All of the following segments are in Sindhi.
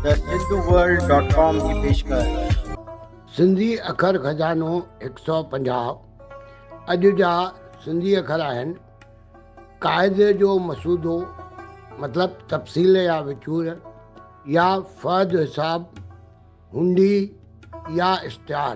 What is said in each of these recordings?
ته سنڌو ورلڊ ڊاٽ ڪام جي پيشڪش. سنڌي اکر خزانو هڪ سؤ پنجاهه اڄ جا سنڌي اکر آهن. قاعدي جو مسودو مطلب تفصيل يا وچور يا فهد حساب هنڊي يا اشتهار.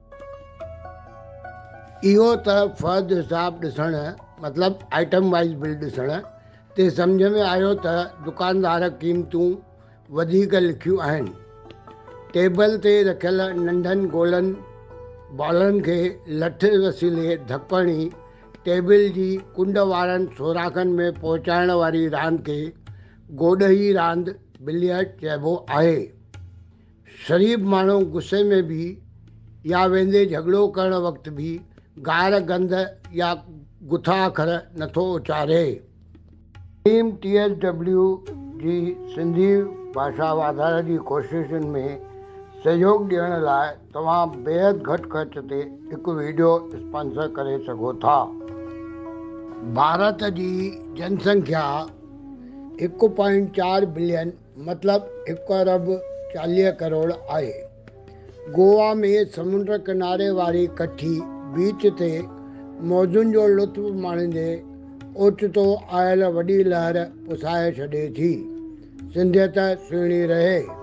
اهو ته فهد حساب ڏسڻ مطلب آئٽم وائيز بل ڏسڻ تي سمجهه ۾ آيو ته دڪاندار قيمتون وڌيڪ لکيون آهن. ٽيبل تي رکيل ننڍن گولن بالن کي لٺ وسيلي ڌڪ هڻي ٽيبل جي ڪنڊ وارن سوراخن ۾ پهچائڻ واري راند کي گوڏهي راند، بليئرڊ، چئبو آهي. شريف ماڻهو غصي ۾ به يا ويندي جهڳڙو ڪرڻ وقت به گار گند يا گٿا اکر نٿو اچاري. ٽيم ٽي ايس ڊبليو جي سنڌي ڀاشا واڌاري جي ڪوششن ۾ سهيوڳ ڏيڻ لاء توهان بيحد گهٽ خرچ تي هڪ ويڊيو اسپانسر ڪري سگهو ٿا. ڀارت جي جن سنکيا هڪ پوائنٽ چار بلين مطلب هڪ ارب چاليهه ڪروڙ آهي. گووا ۾ سمنڊ ڪناري واري ڪٺي بيچ تي موجن جو لطف ماڻيندي اوچتو آيل وڏي لهر پسائي ڇڏي ٿي. سنڌيت سهڻي رهي.